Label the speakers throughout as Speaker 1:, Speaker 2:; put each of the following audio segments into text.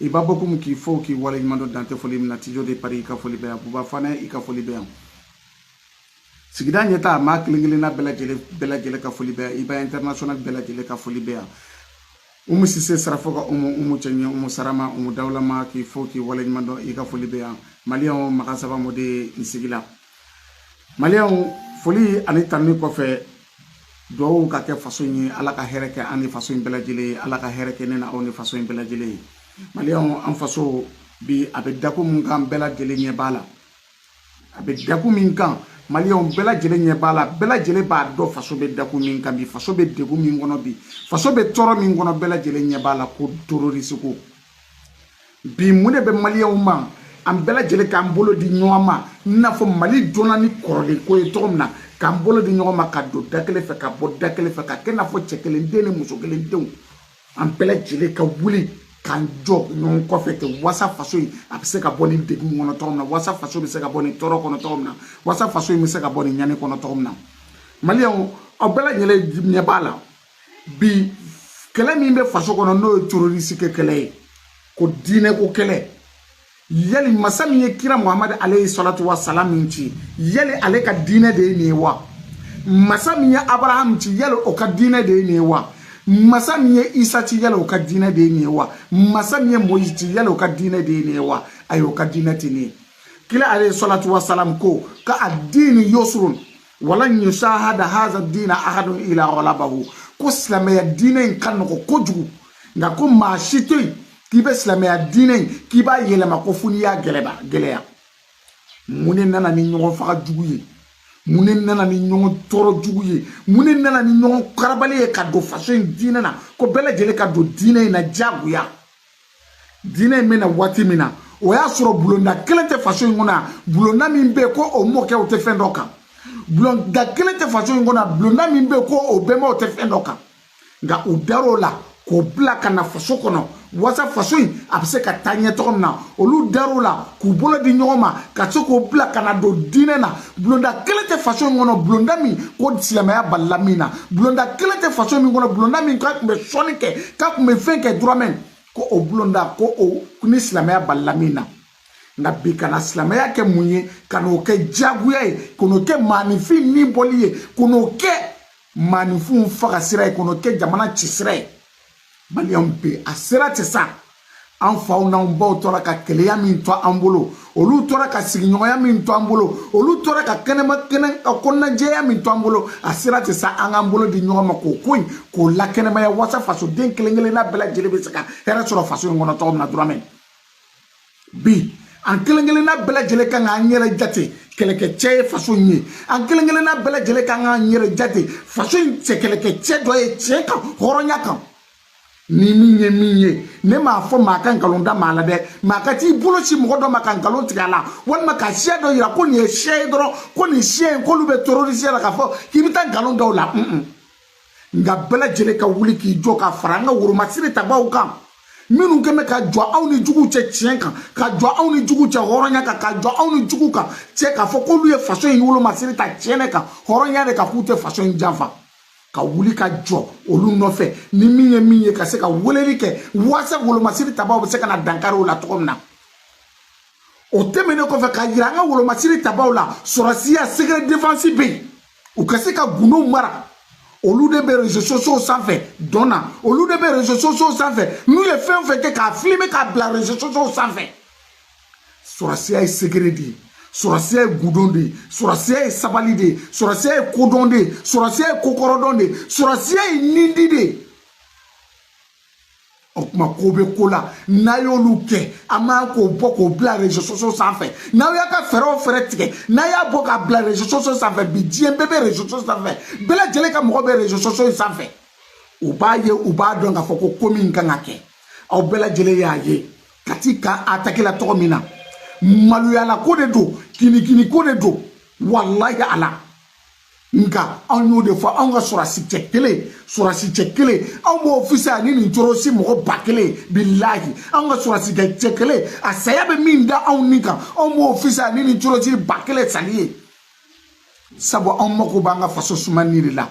Speaker 1: iba bokum k'i fo k'i wale ɲuman dɔn dan tɛ foli min na tijo de pari i ka foli bɛ yan buba fane i ka foli bɛ yan sigida ɲɛtaa maa kelen kelenna bɛɛ lajɛlen bɛɛ lajɛlen ka foli bɛ yan iba international bɛɛ lajɛlen ka foli bɛ yan umu sise sarafo ka umu umu cɛɲɛ umu sarama umu dawulama k'i fo k'i wale ɲuman dɔn i ka foli bɛ yan maliyɛnw maga saba mɔden n sigila maliyɛnw foli ani tanni kɔfɛ duwawu ka kɛ faso in ye ala ka hɛrɛ kɛ an ni faso in bɛɛ lajɛlen ye ala ka hɛrɛ kɛ ne n'aw ni faso in bɛɛ lajɛlen ye maliyɛnw an faso bi a bɛ dakun min kan bɛɛ lajɛlen ɲɛ b'a la a bɛ dakun min kan maliyɛnw bɛɛ lajɛlen ɲɛ b'a la bɛɛ lajɛlen b'a dɔn faso bɛ dakun min kan bi faso bɛ degun min kɔnɔ bi faso bɛ tɔɔrɔ min kɔnɔ bɛɛ lajɛlen ɲɛ b'a la ko terorisi ko bi mun de bɛ maliyɛnw ma an bɛɛ lajɛlen k'an bolo di ɲɔgɔn ma i n'a fɔ mali dɔnna ni kɔrɔlen ko ye cogo min na k'an bolo di ɲɔgɔn ma ka don da kelen fɛ ka bɔ da kelen fɛ ka kɛ n'a fɔ cɛ kelen den ni muso kelen denw an bɛɛ lajɛlen ka wuli k'an jɔ ɲɔgɔn kɔfɛ ten wasa faso in a bɛ se ka bɔ nin degun kɔnɔ cogo min na wasa faso bɛ se ka bɔ nin tɔɔrɔ kɔnɔ cogo min na wasa faso in bɛ se ka bɔ nin ɲani kɔnɔ cogo min na maliyɛnw aw bɛɛ lajɛlen ɲɛ b'a la bi kɛlɛ min bɛ faso kɔnɔ n'o ye terorisi kɛ kɛlɛ ye ko diinɛ ko kɛlɛ yali masa min ye kira muhamadu aleyi salatu wa salam ci yali ale ka diinɛ de ye nin ye wa masa min ye abraham ci yali o ka diinɛ de ye nin ye wa masa min ye isa ci yala o ka diinɛ de ye nin ye wa masa min ye moyizi ci yala o ka diinɛ de ye nin ye wa ayi o ka diinɛ tɛ nin ye kira aleyi salatu wasalam ko ka adiini yusurun walan yusahada haza dina ahadun ila ghalabahu ko silamɛya diinɛ in ka nɔgɔ kojugu nka ko maa si tɛ yen k'i bɛ silamɛya diinɛ in k'i b'a yɛlɛma ko fo n'i y'a gɛlɛya mun de nana ni ɲɔgɔn faga jugu ye mun de nana ni ɲɔgɔn tɔɔrɔ jugu ye mun de nana ni ɲɔgɔn karabali ye ka don faso in diinɛ na ko bɛɛ lajɛlen ka don diinɛ in na diyagoya diinɛ in bɛ na waati min na o y'a sɔrɔ bulonda kelen tɛ faso in kɔnɔ yan bulonda min bɛ yen ko o mɔkɛw tɛ fɛn dɔ kan bulonda kelen tɛ faso in kɔnɔ yan bulonda min bɛ yen ko o bɛnbaw tɛ fɛn dɔ kan nka u dar'o la k'o bila ka na faso kɔnɔ wasa faso in a bɛ se ka taa ɲɛ cogo min na olu dar'o la k'u bolo di ɲɔgɔn ma ka se k'o bila ka na don diinɛ na bulonda kelen tɛ faso min kɔnɔ bulonda min ko silamɛya balila min na bulonda kelen tɛ faso min kɔnɔ bulonda min k'a tun bɛ sɔnni kɛ k'a tun bɛ fɛn kɛ dɔrɔmin ko o bulonda ko o ni silamɛya balila min na nka bi ka na silamɛya kɛ mun ye ka n'o kɛ diyagoya ye ka n'o kɛ maaninfin ni bɔli ye ka n'o kɛ maaninfinw faga sira ye ka n'o kɛ jamana ci sira ye maliyɛnw bɛɛ a sera ten sa an faw n'an baw tora ka kelenya min to an bolo olu tora ka sigiɲɔgɔnya min to an bolo olu tora ka kɛnɛma kɛnɛ ka kɔnɔnajɛya min to an bolo a sera ten sa an k'an bolo di ɲɔgɔn ma k'o ko in k'o lakɛnɛmaya waasa fasoden kelen kelenna bɛɛ lajɛlen bɛ se ka hɛrɛ sɔrɔ faso in kɔnɔ cogo min na vraiment bi an kelen kelenna bɛɛ lajɛlen kan k'an yɛrɛ jate kɛlɛkɛcɛ ye faso in ye an kelen kelenna bɛɛ lajɛlen kan k'an yɛrɛ jate faso in cɛ kɛlɛkɛcɛ dɔ ye tiɲɛ kan hɔrɔnya kan ni min ye min ye ne m'a fɔ maa ka nkalon da maa la dɛ maa ka t'i bolo sin mɔgɔ dɔ ma ka nkalon tigɛ a la walima ka siya dɔ yira ko nin ye siya ye dɔrɔn ko nin siya in k'olu bɛ terorisiya la k'a fɔ k'i bɛ taa nkalon da u la un un nka bɛɛ lajɛlen ka wuli k'i jɔ ka fara an ka wolomasiri tabaw kan minnu kɛn bɛ ka jɔ anw ni juguw cɛ tiɲɛ kan ka jɔ anw ni juguw cɛ hɔrɔnya kan ka jɔ anw ni juguw kan cɛ k'a fɔ k'olu ye faso in wolomasiri ta tiɲɛ de kan hɔrɔnya de kan k'u tɛ faso in janfa ka wuli ka jɔ olu nɔfɛ ni min ye min ye ka se ka weleli kɛ waasa wolomasiri tabaw bɛ se ka na dankari u la cogo min na o tɛmɛnen kɔfɛ k'a yira an ka wolomasiri tabaw la sɔrɔsiya secret defense bɛ yen u ka se ka gundo mara olu de bɛ rezo sosow sanfɛ dɔn na olu de bɛ rezo sosow sanfɛ n'u ye fɛn o fɛn kɛ k'a filime k'a bila rezo sosow sanfɛ sɔrɔsiya ye secret de ye sɔrɔsiya ye gundo de ye sɔrɔsiya ye sabali de ye sɔrɔsiya ye kodɔn de ye sɔrɔsiya ye kokɔrɔdɔn de ye sɔrɔsiya ye nindi de ye o tuma ko bɛ ko la n'a y'olu kɛ a man k'o bɔ k'o bila rezo soso sanfɛ n'aw y'a ka fɛɛrɛ o fɛɛrɛ tigɛ n'a y'a bɔ k'a bila rezo soso sanfɛ bi diɲɛ bɛɛ bɛ rezo soso sanfɛ bɛɛ lajɛlen ka mɔgɔ bɛ rezo soso in sanfɛ u b'a ye u b'a dɔn k'a fɔ ko ko min kan ka kɛ aw bɛɛ lajɛlen y'a ye kati kan atakela cogo min na maloyala ko de don kinikini ko de don walayi ala nka anw y'o de fɔ anw ka sɔrɔsi cɛ kelen sɔrɔsi cɛ kelen anw b'o fisaya ni nin terorisi mɔgɔ ba kelen bilahi anw ka sɔrɔsi cɛ kelen a saya bɛ min da anw ni kan anw b'o fisaya ni nin terorisi ba kelen sali ye sabu anw mako b'an ka faso sumayali de la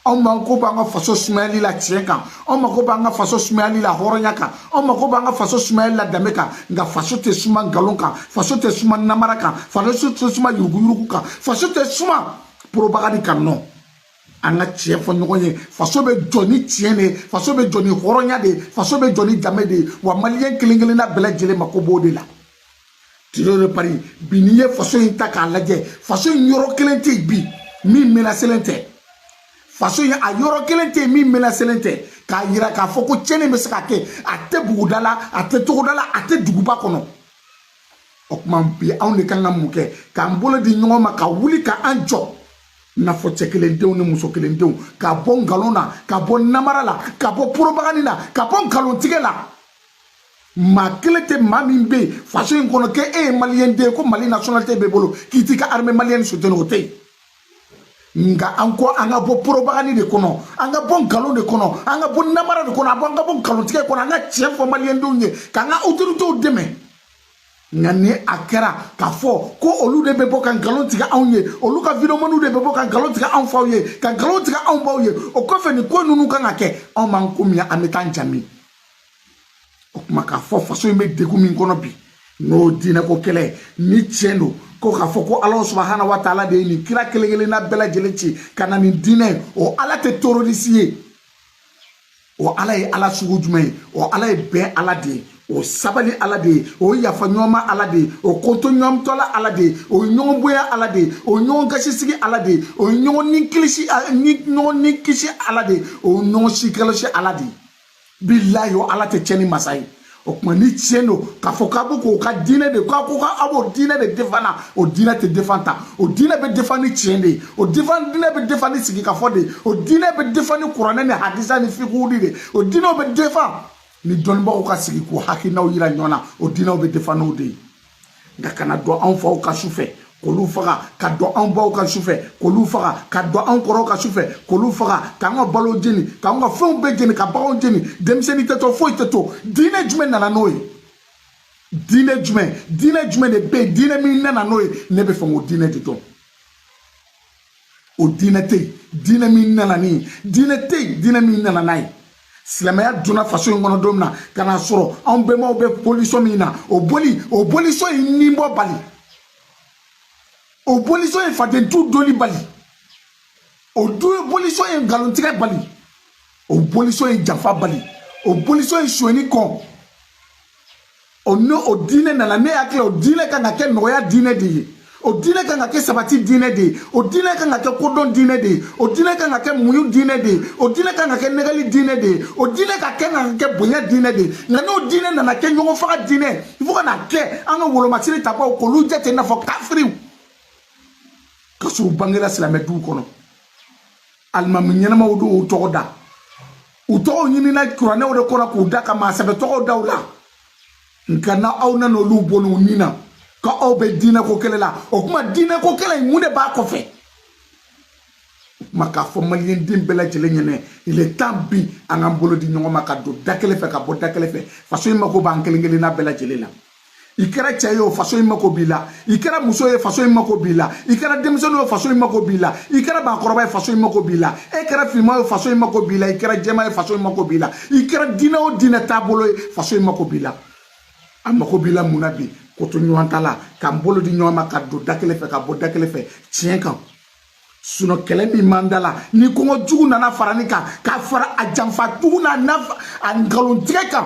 Speaker 1: anw mako b'an ka faso sumayali la tiɲɛ kan an mago b'an ka faso sumayali la hɔrɔnya kan an mago b'an ka faso sumayali la danbe kan nka faso tɛ suma nkalon kan faso tɛ suma namara kan faso tɛ suma yuruguyurugu kan faso tɛ suma propagande kan nɔ an ka tiɲɛ fɔ ɲɔgɔn ye faso bɛ jɔ ni tiɲɛ de ye faso bɛ jɔ ni hɔrɔnya de ye faso bɛ jɔ ni danbe de ye wa maliyɛn kelen kelenna bɛɛ lajɛlen mako b'o de la tiro de pari bi n'i ye faso in ta k'a lajɛ faso in yɔrɔ kelen tɛ yen bi min menaselen tɛ faso in a yɔrɔ kelen tɛ yen min menaselen tɛ k'a yira k'a fɔ ko tiɲɛni bɛ se ka kɛ a tɛ buguda la a tɛ togoda la a tɛ duguba kɔnɔ o tuma bi anw de kan ka mun kɛ k'an bolo di ɲɔgɔn ma ka wuli ka an jɔ n'a fɔ cɛ kelen denw ni muso kelen denw ka bɔ nkalon na ka bɔ namara la ka bɔ porobagani na ka bɔ nkalontigɛ la maa kelen tɛ maa min bɛ yen faso in kɔnɔ k'e ye maliyɛn den ye ko mali nationalité b'e bolo k'i t'i ka armée malienne soutenu o tɛ yen nka an ko an ka bɔ porobagani de kɔnɔ an ka bɔ nkalon de kɔnɔ an ka bɔ namara de kɔnɔ an ka bɔ nkalontigɛ kɔnɔ an ka tiɲɛ fɔ maliyɛndenw ye k'an ka autoritéw dɛmɛ nka ni a kɛra k'a fɔ ko olu de bɛ bɔ ka nkalon tigɛ anw ye olu ka videomaniw de bɛ bɔ ka nkalon tigɛ anw faw ye ka nkalon tigɛ anw baw ye o kɔfɛ ni ko ninnu kan ka kɛ anw b'an ko min an bɛ taa fan jumɛn o tuma k'a fɔ faso in bɛ degun min kɔnɔ bi n'o diinɛko kɛlɛ ni tiɲɛ don ko k'a fɔ ko ala subahana wa taala de ye nin kira kelen kelenna bɛɛ lajɛlen ci ka na nin diinɛ ye o ala tɛ terroriste ye o ala ye ala sugu jumɛn ye o ala ye bɛn ala de ye o sabali ala de ye o yafa ɲɔgɔnma ala de ye o kotoɲɔgɔntala ala de ye o ɲɔgɔn bonya ala de ye o ɲɔgɔn gasisigi ala de ye o ɲɔgɔn ni kilisi ɲɔgɔn ni kisi ala de ye o ɲɔgɔn si kɔlɔsi ala de ye bilayi o ala tɛ tiɲɛni masa ye o tuma ni tiɲɛ don k'a fɔ k'a bɛ k'o ka diinɛ de k'a ko k'a b'o diinɛ de defan na o diinɛ tɛ defan tan o diinɛ bɛ defan ni tiɲɛ de ye o defan diinɛ bɛ defan ni sigikafɔ de ye o diinɛ bɛ defan ni kuranɛ ni hadisa ni fikuw de ye o diinɛw bɛ defan ni dɔnnibagaw ka sigi k'u hakilinaw yira ɲɔgɔn na o diinɛw bɛ defan n'o de ye nka ka na don anw faw kan su fɛ k'olu faga ka don anw baw kan su fɛ k'olu faga ka don anw kɔrɔw kan su fɛ k'olu faga k'an ka balo jeni k'an ka fɛnw bɛɛ jeni ka baganw jeni denmisɛnnin tɛ to foyi tɛ to diinɛ jumɛn nana n'o ye diinɛ jumɛn diinɛ jumɛn de bɛ yen diinɛ min nana n'o ye ne b'a fɛ k'o diinɛ de dɔn o diinɛ tɛ yen diinɛ min nana ni ye diinɛ tɛ yen diinɛ min nana n'a ye silamɛya donna faso in kɔnɔ don min na ka n'a sɔrɔ anw bɛnbaw bɛ bolisɔn min na o boli o bolisɔn ye ni bɔ bali o bolisɔn ye fadentu doli bali o bolisɔn ye nkalontigɛ bali o bolisɔn ye janfa bali o bolisɔn ye sonyɛni kɔn o n'o diinɛ nana ne hakili o diinɛ kan ka kɛ nɔgɔya diinɛ de ye o diinɛ kan ka kɛ sabati diinɛ de ye o diinɛ kan ka kɛ kodɔn diinɛ de ye o diinɛ kan ka kɛ muɲu diinɛ de ye o diinɛ kan ka kɛ nɛgɛnni diinɛ de ye o diinɛ ka kɛ kan ka kɛ bonya diinɛ de ye nka n'o diinɛ nana kɛ ɲɔgɔn faga diinɛ fo ka na kɛ an ka wolomasiri tabaw k'olu jate i n'a fɔ kafiriw ka sɔrɔ u bangera silamɛ duw kɔnɔ alimami ɲɛnamaw don u tɔgɔ da u tɔgɔw ɲinina kuranɛw de kɔnɔ k'u da ka maa sɛbɛ tɔgɔw da u la nka n'aw nana olu bɔnni u ni na k'aw bɛ diinɛko kɛlɛ la o tuma diinɛko kɛlɛ in mun de b'a kɔfɛ o tuma k'a fɔ maliyɛnden bɛɛ lajɛlen ɲɛnɛ il est temps bi an k'an bolo di ɲɔgɔn ma ka don da kelen fɛ ka bɔ da kelen fɛ faso in mako b'an kelen kelenna bɛɛ lajɛlen la i kɛra cɛ ye o faso in mako b'i la i kɛra muso ye faso in mako b'i la i kɛra denmisɛnnin ye faso in mako b'i la i kɛra maakɔrɔba ye faso in mako b'i la e kɛra finman ye faso in mako b'i la i kɛra jɛman ye faso in mako b'i la i kɛra diinɛ o diinɛ taabolo ye faso in mako b'i la a mako b'i la mun na bi kotoɲɔgɔntala k'an bolo di ɲɔgɔn ma ka don da kelen fɛ ka bɔ da kelen fɛ tiɲɛ kan sinon kɛlɛ min b'an da la ni kɔngɔ jugu nana fara nin kan ka fara a janfa jugu n'a a nkalontigɛ kan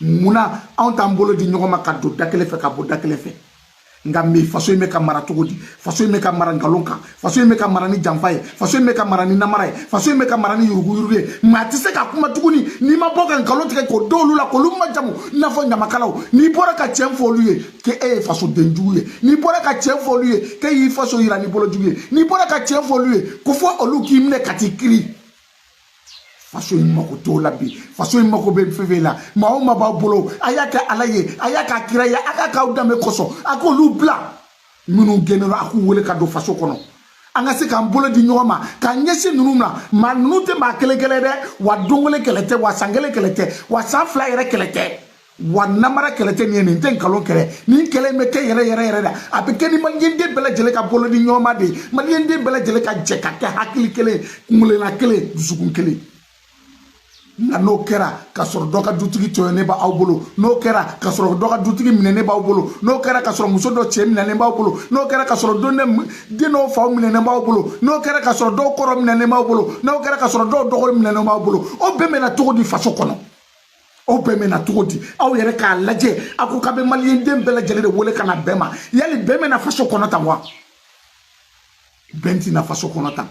Speaker 1: munna anw t'an bolo di ɲɔgɔn ma ka don da kelen fɛ ka bɔ da kelen fɛ nka bi faso in bɛ ka mara cogo di faso in bɛ ka mara nkalon kan faso in bɛ ka mara ni janfa ye faso in bɛ ka mara ni namara ye faso in bɛ ka mara ni yuruguyurugu ye maa tɛ se ka kuma tuguni n'i ma bɔ ka nkalon tigɛ k'o don olu la k'olu majamu i n'a fɔ ɲamakalaw n'i bɔra ka tiɲɛ fɔ olu ye k'e ye fasoden jugu ye n'i bɔra ka tiɲɛ fɔ olu ye k'e y'i faso yira ni bolo jugu ye n'i bɔra ka tiɲɛ fɔ olu ye ko fo olu k'i minɛ ka t'i kiri faso in mako t'o la bi faso in mako bɛ fɛn fɛn la maa o maa b'a bolo a y'a kɛ ala ye a y'a k'a kira ye a k'a k'aw danbe kosɔn a k'olu bila minnu gɛnnen don a k'u wele ka don faso kɔnɔ an ka se k'an bolo di ɲɔgɔn ma k'an ɲɛsin ninnu na maa ninnu tɛ maa kelen kɛlɛ dɛ wa don kelen kɛlɛ tɛ wa san kelen kɛlɛ tɛ wa san fila yɛrɛ kɛlɛ tɛ wa namara kɛlɛ tɛ nin ye nin tɛ nkalon kɛlɛ nin kɛlɛ in bɛ kɛ yɛrɛ yɛrɛ yɛrɛ la a bɛ kɛ ni maliyɛnden bɛɛ lajɛlen ka bolo di ɲɔgɔn ma de ye maliyɛnden bɛɛ lajɛlen ka jɛ ka kɛ hakili kelen kungelena kelen dusukun kelen nka n'o kɛra ka sɔrɔ dɔ ka dutigi tɔɲɔnen b'aw bolo n'o kɛra ka sɔrɔ dɔ ka dutigi minɛnen b'aw bolo n'o kɛra ka sɔrɔ muso dɔ cɛ minɛnen b'aw bolo n'o kɛra ka sɔrɔ don den dɔw faw minɛnen b'aw bolo n'o kɛra ka sɔrɔ dɔw kɔrɔ minɛnen b'aw bolo n'o kɛra ka sɔrɔ dɔw dɔgɔ minɛnen b'aw bolo o bɛn bɛna cogo di faso kɔnɔ o bɛn bɛna cogo di aw yɛrɛ k'a lajɛ a ko k'a bɛ maliyɛnden bɛɛ lajɛlen de wele ka na bɛn ma yali bɛn bɛna faso kɔnɔ tan wa bɛn tɛna faso kɔnɔ tan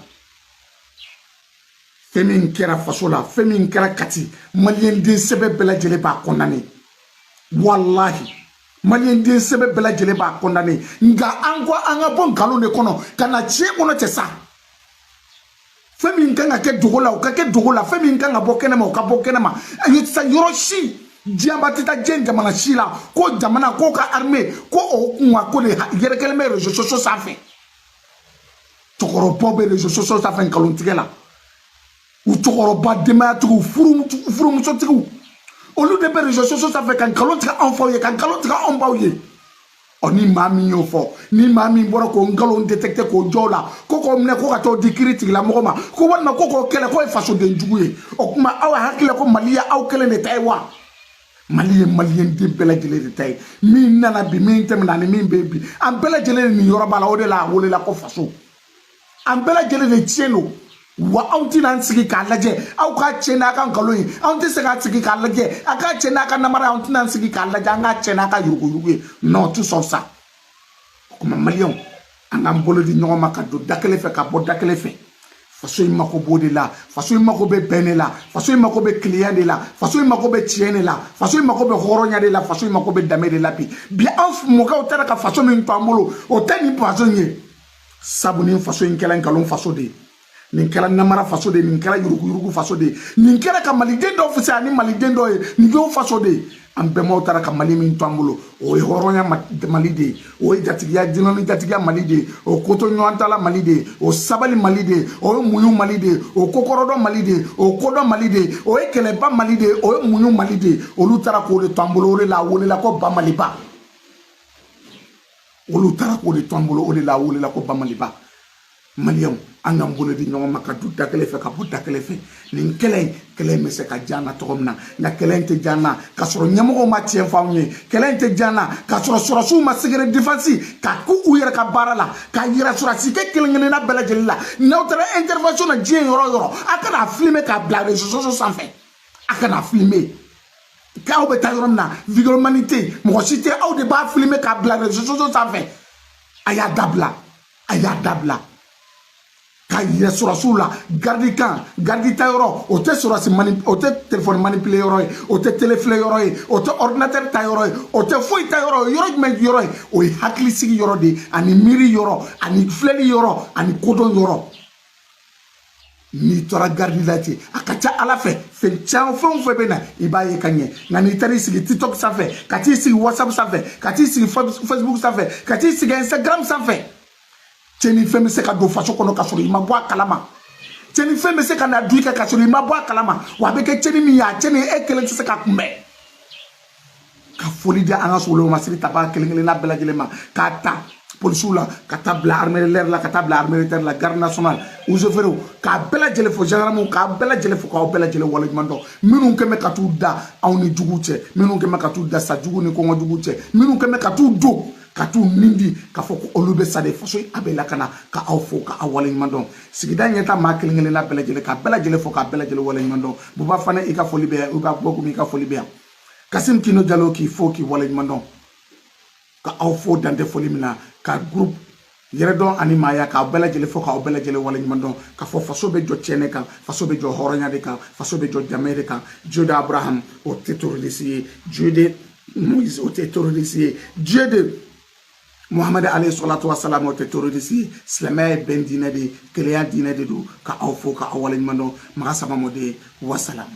Speaker 1: fɛn min kɛra faso la fɛn min kɛra kati maliyɛnden sɛbɛ bɛɛ lajɛlen b'a condamner walahi maliyɛnden sɛbɛ bɛɛ lajɛlen b'a condamner nka an ko an ka bɔ nkalon de kɔnɔ ka na tiɲɛ kɔnɔ cɛ sa fɛn min kan ka kɛ dogo la o ka kɛ dogo la fɛn min kan ka bɔ kɛnɛma o ka bɔ kɛnɛma ayi sa yɔrɔ si diɲɛba tɛ taa diɲɛ jamana si la ko jamana k'o ka armée ko o kunkanko de yɛrɛkɛlen bɛ réseaux sociaux sanfɛ cɛkɔrɔbaw bɛ réseaux sociaux sanfɛ nkalontigɛ la u cɛkɔrɔba denbayatigiw furumusotigiw olu de bɛ réseaux sociaux sanfɛ ka nkalon tigɛ anw faw ye ka nkalon tigɛ anw baw ye ɔ ni maa min y'o fɔ ni maa min bɔra k'o nkalon détecté k'o jɔ o la ko k'o minɛ ko ka t'o di kiritigɛla mɔgɔ ma ko walima ko k'o kɛlɛ k'o ye fasoden jugu ye o tuma aw hakili la ko mali ye aw kelen de ta ye wa mali ye maliyɛn den bɛɛ lajɛlen de ta ye min nana bi min tɛmɛna ani min bɛ yen bi an bɛɛ lajɛlen niyɔrɔ b'a la o de la a welela ko faso an bɛɛ lajɛlen de tiɲɛ don wa an tɛna an sigi k'a lajɛ aw k'a tiɲɛ n'a ka nkalon ye anw tɛ se k'an sigi k'a lajɛ a k'a tiɲɛ n'a ka namara anw tɛna an sigi k'a lajɛ an k'a tiɲɛ n'a ka yuruguyurugu ye non tɛ sɔn sa o tuma maliyɛnw an k'an bolo di ɲɔgɔn ma ka don da kelen fɛ ka bɔ da kelen fɛ faso in mako b'o de la faso in mako bɛ bɛn de la faso in mako bɛ kelenya de la faso in mako bɛ tiɲɛ de la faso in mako bɛ hɔrɔnya de la faso in mako bɛ danbe de la bi bi an mɔkɛw taara ka faso min to an bolo o tɛ nin faso in ye sabu nin faso in kɛla nkalon faso de ye nin kɛra namara faso de ye nin kɛra yuruguyurugu faso de ye nin kɛra ka maliden dɔw fisaya ni maliden dɔ ye nin kɛr'o faso de ye an bɛnbaw taara ka mali min to an bolo o ye hɔrɔnya mali de ye o ye jatigiya dunan ni jatigiya mali de ye o koto ɲɔgɔn tala mali de ye o sabali mali de ye o ye muɲu mali de ye o kokɔrɔdɔn mali de ye o kodɔn mali de ye o ye kɛlɛban mali de ye o ye muɲu mali de ye olu taara k'o de to an bolo o de la a welela ko ba maliba olu taara k'o de to an bolo o de la a welela ko bamaliba maliyɛnw an k'an bolo di ɲɔgɔn ma ka don da kelen fɛ ka bɔ da kelen fɛ nin kɛlɛ in kɛlɛ in bɛ se ka diya an na cogo min na nka kɛlɛ in tɛ diya an na k'a sɔrɔ ɲɛmɔgɔw ma tiɲɛ fɔ anw ye kɛlɛ in tɛ diya an na k'a sɔrɔ sɔrɔsiw ma secret défense ka k'u yɛrɛ ka baara la k'a yira sɔrɔsikɛ kelen kelenna bɛɛ lajɛlen la n'aw taara intervention na diɲɛ yɔrɔ o yɔrɔ a kana filime k'a bila réseaux sociaux sanfɛ a kana filime k'aw bɛ taa yɔrɔ min na vidéomani tɛ yen mɔgɔ si tɛ aw de b'a filime k'a bila réseaux sociaux sanfɛ a y'a dabila a y'a dabila k'a yira sɔrɔsiw la garidi kan garidi ta yɔrɔ o tɛ sɔrɔsi mani o tɛ telefɔni manipile yɔrɔ ye o tɛ tele filɛ yɔrɔ ye o tɛ ɔridinatɛri ta yɔrɔ ye o tɛ foyi ta yɔrɔ ye yɔrɔ jumɛn yɔrɔ ye o ye hakilisigi yɔrɔ de ye ani miiri yɔrɔ ani filɛli yɔrɔ ani kodɔn yɔrɔ n'i tora garidi la ten a ka ca ala fɛ fɛn caman fɛn o fɛn bɛ na i b'a ye ka ɲɛ nka n'i taara i sigi tiktok sanfɛ ka t'i sigi whatsapp sanfɛ ka t'i sigi facebook sanfɛ ka t'i sigi instagram sanfɛ cɛnni fɛn bɛ se ka don faso kɔnɔ ka sɔrɔ i ma bɔ a kalama cɛnni fɛn bɛ se ka na don i kan ka sɔrɔ i ma bɔ a kalama wa a bɛ kɛ cɛnni min ye a cɛnni e kelen tɛ se k'a kunbɛn ka foli di an ka solomasiri tabaa kelen kelenna bɛɛ lajɛlen ma k'a ta polisiw la ka taa bila armée de l'air la ka taa bila armée de terre la garde nationale eaux et forêts k'a bɛɛ lajɛlen fo gendarmew k'a bɛɛ lajɛlen fo k'aw bɛɛ lajɛlen waleɲuman dɔn minnu kɛn bɛ ka t'u da aw ni juguw cɛ minnu kɛn bɛ ka t'u da sa jugu ni kɔngɔ juguw cɛ minnu kɛn bɛ ka t'u don ka t'u nin di k'a fɔ ko olu bɛ sa de faso a bɛ lakana ka aw fo ka aw waleɲuman dɔn sigida ɲɛta maa kelen kelenna bɛɛ lajɛlen k'a bɛɛ lajɛlen fo k'a bɛɛ lajɛlen waleɲuman dɔn buba fane i ka foli bɛ yan i ka bɔ komi i ka foli bɛ yan kasim kino jalo k'i fo k'i waleɲuman dɔn ka aw fo dan tɛ foli min na ka groupe yɛrɛdɔn ani maaya k'aw bɛɛ lajɛlen fo k'aw bɛɛ lajɛlen waleɲuman dɔn k'a fɔ faso bɛ jɔ tiɲɛ de kan faso bɛ jɔ hɔrɔnya de kan faso bɛ jɔ danbe de kan dieu de abraham o tɛ terroriste ye dieu de moise o tɛ terroriste ye dieu de muhamad alayhi salatu wasalam o tɛ terroriste ye silamɛya ye bɛn diinɛ de ye kelenya diinɛ de don ka aw fo ka aw waleɲuman dɔn maga saba mɔden wasalamu